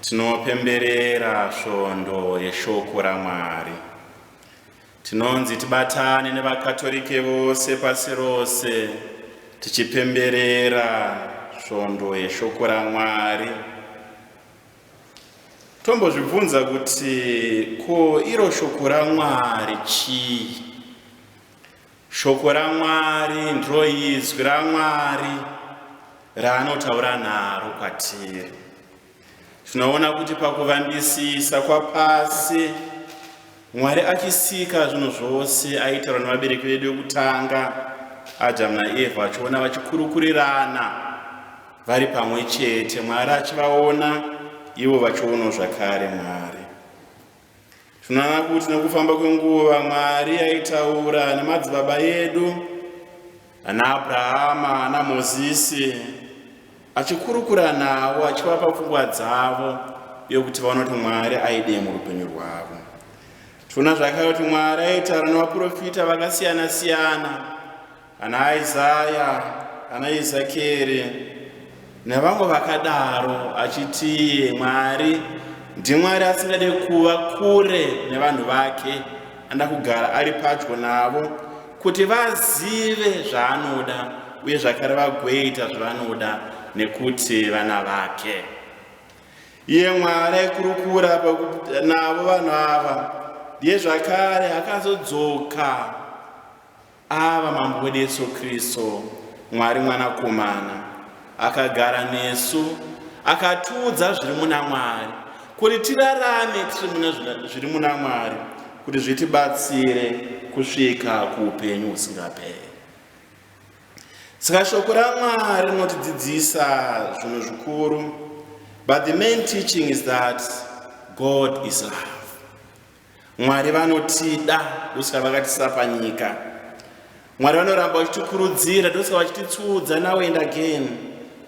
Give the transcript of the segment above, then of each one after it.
Tinopemberera svondo yeshoko raMwari. Tinonzi tibatane nevaKatorike vose pasi rose tichipemberera svondo yeshoko raMwari. Tombozvibvunza kuti ko iro shoko raMwari chii? Shoko raMwari ndiro izwi raMwari raanotaura naro kwatiri. Tinoona kuti pakuvambisisa kwapasi Mwari achisika zvinhu zvose aitaura nevabereki vedu vekutanga Adamu naEvha achiona vachikurukurirana vari pamwe chete Mwari achivaona ivo vachionawo zvakare Mwari. Tinoona kuti nekufamba kwenguva Mwari aitaura nemadzibaba edu ana Abrahama ana Mozisi achikurukura navo achivapa pfungwa dzavo yokuti vaona kuti Mwari aidei murupenyu rwavo. Tinoona zvakare kuti Mwari aitaura nevaprofita vakasiyana siyana ana Isaya, ana Ezekieri nevamwe vakadaro achiti Mwari ndiMwari asingade kuva kure nevanhu vake, anoda kugara ari padyo navo kuti vazive zvaanoda uye zvakare vagoita zvavanoda nekuti vana vake. Iye Mwari aikurukura navo vanhu ava ndiye zvakare akazodzoka Ava mambo wedu Yesu Kristu, Mwari Mwanakomana, akagara nesu, akatiudza zviri muna Mwari, kuti tirarame tiri muna zviri muna Mwari, kuti zvitibatsire kusvika kuupenyu husingaperi. Saka shoko raMwari rinotidzidzisa zvinhu zvikuru, but the main teaching is that God is love. Mwari vanotida ndosaka vakatisa panyika. Mwari vanoramba vachitikurudzira ndosaka vachititsudza now and again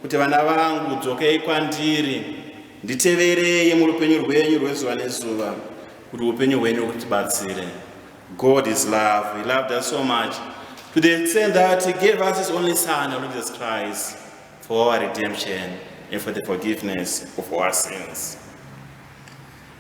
kuti vana vangu dzokei kwandiri nditeverei murupenyu rwenyu rwezuva nezuva kuti upenyu hwenyu hutibatsire. God is love. He loved us so much to the extent that he gave us his only son, Jesus Christ, for our redemption and for the forgiveness of our sins.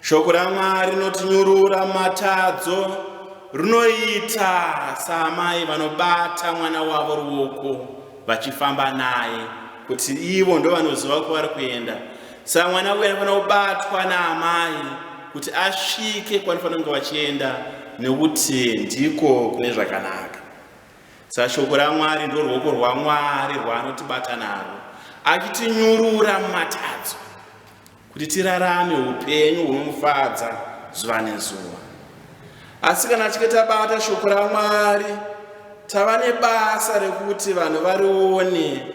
Shoko raMwari rinotinyurura matadzo rinoita saamai vanobata mwana wavo ruoko vachifamba naye kuti ivo ndovanoziva kwavari kuenda saka mwana uyu anofanira kubatwa naamai kuti asvike kwanofanira kunge vachienda nekuti ndiko kune zvakanaka Sashoko raMwari ndorwoko rwaMwari rwaanotibata narwo, achitinyurura mumatadzo kuti tirarame upenyu hunomufadza zuva nezuva. Asi kana tichinge tabata shoko raMwari, tava nebasa rekuti vanhu varione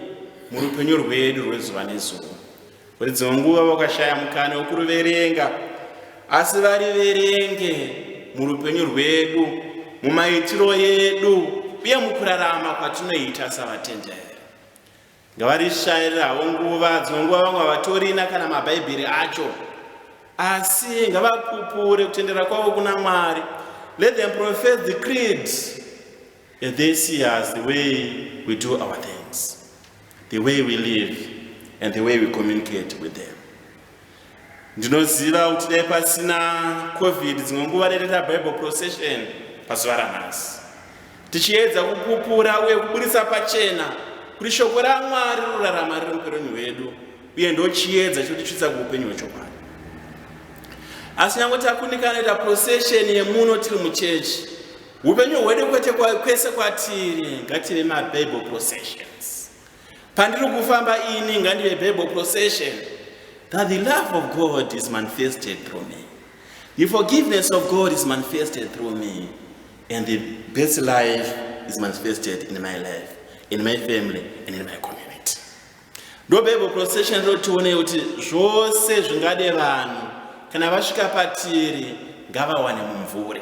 murupenyu rwedu rwezuva nezuva. Kune dzimwe nguva vakashaya mukana wokuruverenga, asi variverenge murupenyu rwedu, mumaitiro edu, uye mukurarama kwatinoita savatenderi. Ngavarishayirira havo nguva, dzimwe nguva vamwe havatorina kana maBhaibheri acho, asi ngavapupure kutendera kwavo kuna Mwari. Let them profess the creed. And they see us the way we do our things, the way we live, and the way we communicate with them. Ndinoziva kuti dai pasina COVID dzimwe nguva rereta Bible procession pazuva ranhasi. Tichiedza kupupura uye kuburitsa pachena kuti shoko raMwari rorarama riri upenyu hwedu uye ndochiedza chotichitsa kuupenyu hwechokwadi. Asi nyange takundikana kuita procession yemuno tiri muchechi Upenyu hwedu kwete kwese kwatiri ngative mabible processions. Pandiri kufamba ini ngandive bible procession that the love of God is manifested through me. The forgiveness of God is manifested through me. And the best life is manifested in my life, in my family, and in my community. Ndobebo procession roti tione kuti zvose zvingade vanhu kana vasvika patiri ngavawane mumvuri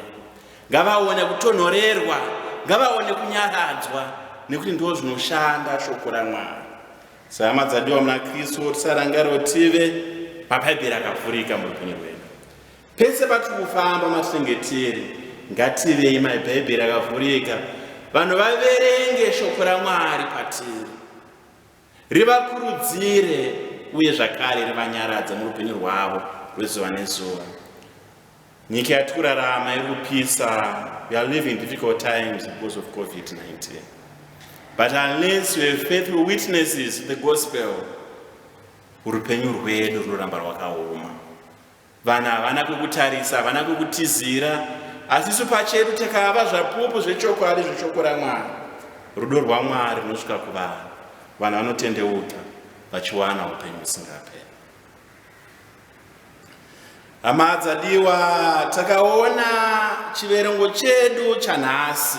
ngavaone kutonhorerwa ngavaone kunyaradzwa nekuti ndo zvinoshanda shoko ramwari sahama dzadiwa muna kristu tisarangariro tive mabhaibheri akavhurika muupenyu hwedu pese patiri kufamba matinenge tiri ngativei mabhaibheri akavhurika vanhu vaverenge shoko ramwari patiri rivakurudzire uye zvakare rivanyaradze murupenyu rwavo rwezuva nezuva nyika yati kurarama iri kupisa we are living difficult times because of covid-19 but unless you have faithful witnesses the gospel urupenyu rwedu runoramba rwakaoma Vanhu havana kukutarisa, havana kukutizira, asi isu pachedu takava zvapupu zvechokwadi zveshoko raMwari. Rudo rwaMwari runosvika kuvanhu, vanhu vanotendeuka vachiwana upenyu husingaperi. Hama dzadiwa, takaona chiverengo chedu chanhasi.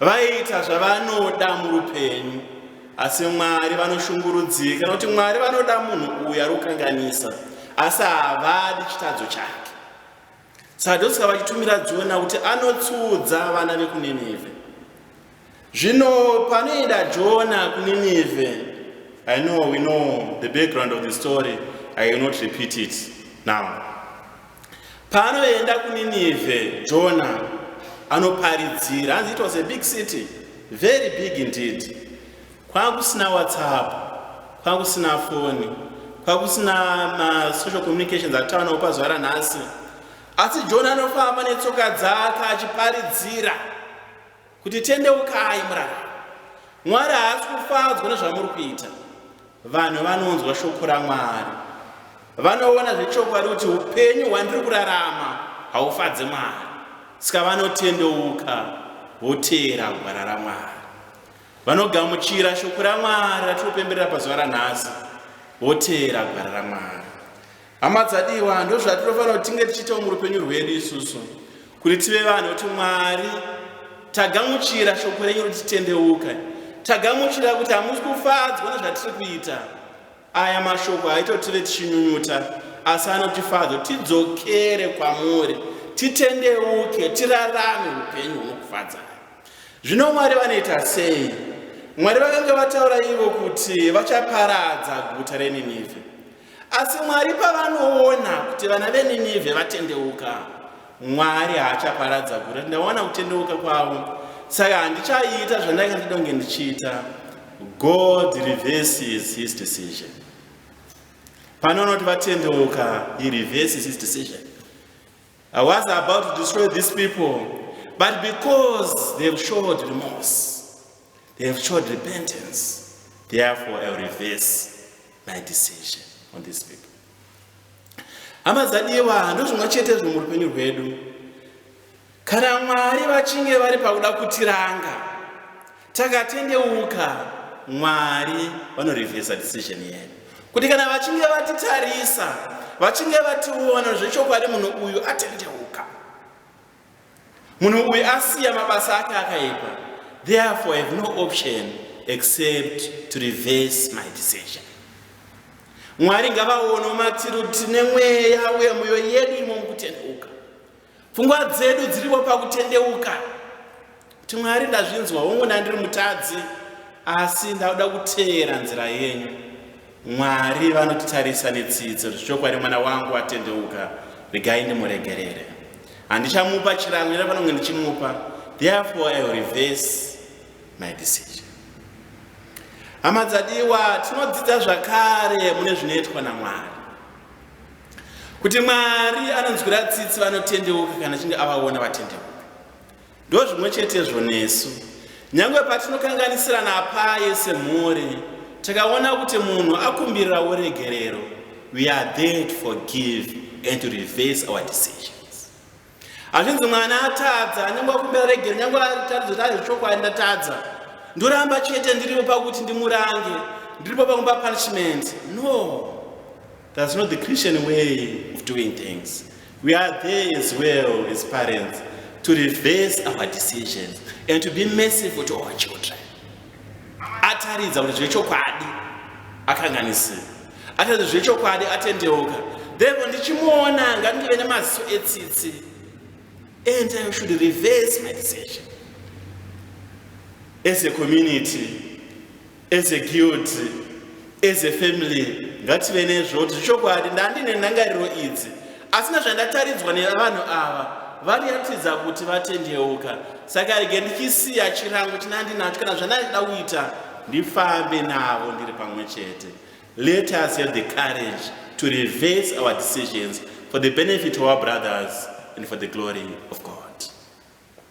Vaiita zvavanoda murupenyu, asi Mwari vanoshungurudzika nokuti Mwari vanoda munhu uyu ari kukanganisa, asi havadi chitadzo chake. Sadhoska vachitumira Jona kuti anotsudza vana vekuNinevhe. Zvino panoenda Jona kuNinevhe, I know we know the background of the story, I will not repeat it now. Paanoenda kuNinevhe, Jona anoparidzira. Hanzi it was a big city, very big indeed. Kwakusina WhatsApp, kwakusina foni, kwakusina masocial communications atava nawo pazuva ranhasi. Asi Jona anofamba netsoka dzake achiparidzira. kuti tendeukai murarame mwari haasi kufadzwa nezvamuri kuita vanhu vanonzwa shoko ramwari vanoona zvechokwadi kuti upenyu hwandiri kurarama haufadze mwari saka vanotendeuka voteera gwara ramwari vanogamuchira shoko ramwari ratinopemberera pazuva ranhasi voteera gwara ramwari Hama dzadiwa, ndozvatinofanira kuti tinge tichiitawo murupenyu rwedu isusu kuti tive vanhu kuti Mwari tagamuchira shoko renyu kuti titendeuka, tagamuchira kuti hamusi kufadzwa nezvatiri kuita. Aya mashoko haito tive tichinyunyuta, asi anotifadza tidzokere kwamuri, titendeuke, tirarame upenyu hunokufadzai. Zvino Mwari vanoita sei? Mwari vakanga vataura ivo kuti vachaparadza guta reNinivhe. Asi Mwari pavanoona kuti vana veNinivhe vatendeuka, Mwari haachaparadza guta. Ndaona kutendeuka kwavo, saka handichaiita zvandanga ndida kunge ndichiita. God reverses his decision. Panoona kuti vatendeuka, he reverses his decision. I was about to destroy these people, but because they have showed remorse, they have showed repentance, therefore I reverse my decision on this people hama dzadiwa ndozvimwe chete zvo murupenyu rwedu kana mwari vachinge vari pakuda kutiranga takatendeuka mwari vanorevhesa decision yedu kuti kana vachinge vatitarisa vachinge vationa zvechokwadi munhu uyu atendeuka Munhu uyu asiya mabasa ake akaipa, therefore I have no option except to reverse my decision. Mwari ngavaono matiro tine mweya uye mwoyo yedu imo mukutendeuka. Pfungwa dzedu dziripo pakutendeuka. kuti mwari ndazvinzwa hongu ndandiri mutadzi asi ndauda kuteera nzira yenyu mwari vanotitarisa netsidzo zvichokwadi mwana wangu atendeuka regai ndimuregerere handichamupa chirango ira panonge ndichimupa therefore i will reverse my decision hama dzadiwa tinodzidza zvakare mune zvinoitwa namwari kuti mwari anonzwira tsitsi vanotendeuka kana chinge avaona vatendeuka Ndozvimwe chetezvo nesu. Nyange patinokanganisirana apaye semhuri, takaona kuti munhu akumbirira uregerero, we are there to forgive and to reverse our decisions. Hazvinzi mwana atadza, nyange akumbira regero, nyange atadza kuti ari zvechokwadi ndatadza. Ndoramba chete ndiripo pakuti ndimurange, ndiripo pakumba punishment. No. That's not the Christian way of doing things. We are there as well as parents to reverse our decisions and to be merciful to our children. Ataridza kuti zvechokwadi akanganisira, ataridza zvechokwadi atendeuka, therefore ndichimuona ngandive nemaziso etsitsi and I should reverse my decision as a community As a guild, as a family, ngative nezvo kuti zvichokwadi ndandine nhangariro idzi asi nezvandataridzwa nevanhu ava variratidza kuti vatendeuka saka rege ndichisiya chirango chinandinacho kana zvandandida kuita ndifambe navo ndiri pamwe chete let us have the courage to reverse our decisions for the benefit of our brothers and for the glory of god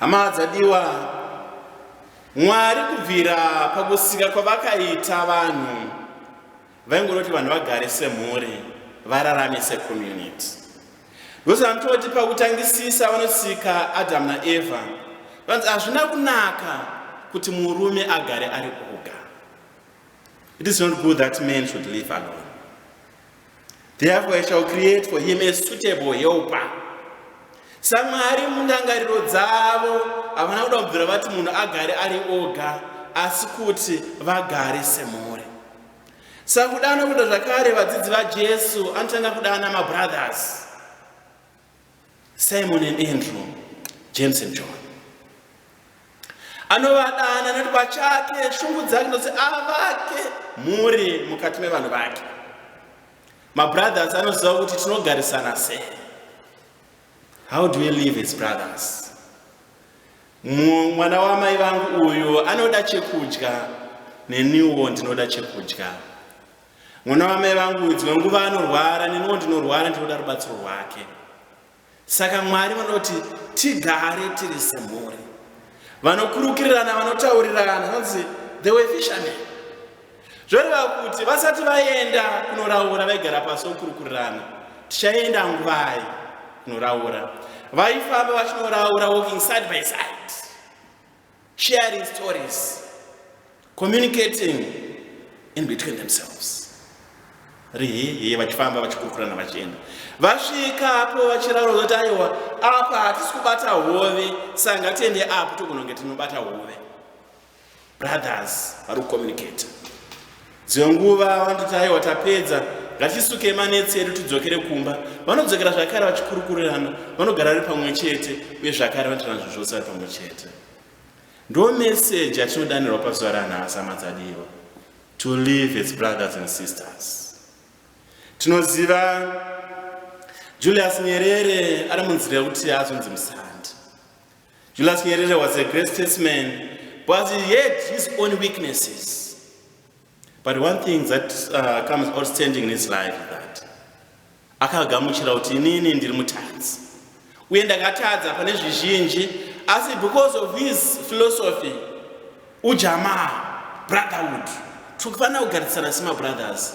Hama dzadiwa, Mwari kubvira pakusika kwavakaita vanhu vaingoda kuti vanhu vagare semhuri, vararame secommunity. Ndosaka anototi pakutangisisa vanosika Adamu naEvha vanzi hazvina kunaka kuti murume agare ari oga. It is not good that man should live alone. Therefore I shall create for him a suitable helper. SaMwari mundangariro dzavo havana kuda kubvira vati munhu agare ari oga asi kuti vagare semhuri. Sakudana kuda zvakare vadzidzi vaJesu anotanga kudana mabrothers. Simon and Andrew, James and John. Anovadana nekuti pachake shungu dzake ndozi avake mhuri mukati mevanhu vake. Mabrothers anoziva kuti tinogarisana sei. How do we live as brothers? Mwana wamai vangu uyu anoda chekudya neniwo ndinoda chekudya. Mwana wamai vangu dzimwe nguva anorwara, neniwo ndinorwara, ndinoda rubatsiro rwake. Saka Mwari vanoda kuti tigare tiri semhuri. Vanokurukirirana, vanotaurirana, vanonzi the way fishermen. Zvoreva kuti vasati vaenda kunoraura vaigara pasi vokurukurirana, tichaenda nguvai kunoraura. Vaifamba vachinoraura walking side by side. sharing stories communicating in between themselves rihihi vachifamba vachikurukurana vachienda vasvika apo vachiraura kuti aiwa apa hatisi kubata hove saka ngatiende apo togononge tinobata hove brothers vari kucommunicate Dzimwe nguva vanototi aiwa tapedza, ngatisuke manetsi edu tidzokere kumba. Vanodzokera zvakare vachikurukurirana, vanogara vari pamwe chete uye zvakare vanoita nazvo zvose vari pamwe chete. Ndo meseji yatinodanirwa pazuva ranhasi hama dzadiwa, to live as brothers and sisters. Tinoziva Julius Nyerere ari munzira yekuti azonzi musandi. Julius Nyerere was a great statesman but he had his own weaknesses. But one thing that uh, comes outstanding in his life is that akagamuchira kuti inini ndiri mutadzi uye ndakatadza pane zvizhinji asi because of his philosophy ujamaa brotherhood tiri kufanira kugarisana semabrothers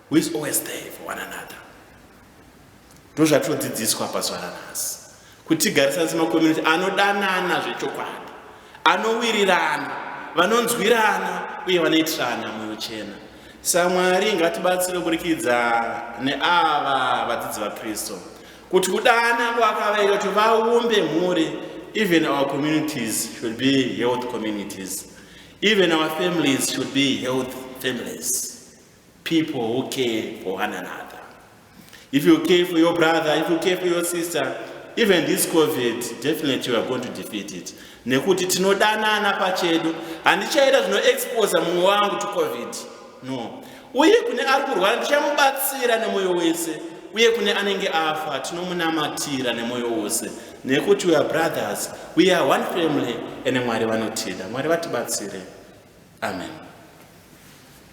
who is always there for one another ndozvatinodzidziswa pazuva ranhasi kuti tigarisane semacommunity anodanana zvechokwadi anowirirana vanonzwirana uye vanoitirana mwoyo chena samwari ngatibatsire kuburikidza neava vadzidzi vakristu kuti kudana kwakavaita kuti vaumbe mhuri even our communities should be health communities even our families should be health families People who care for one another. If you care for your brother, if you care for your sister, even this covid definitely weare going to defeat it nekuti tinodanana pachedu handichaita zvinoexposa mumwe wangu to covid no uye kune ari kurwara ndichamubatsira nemwoyo wese uye kune anenge afa tinomunamatira nemwoyo wose nekuti weare brothers we are one family ene mwari vanotida mwari vatibatsire amen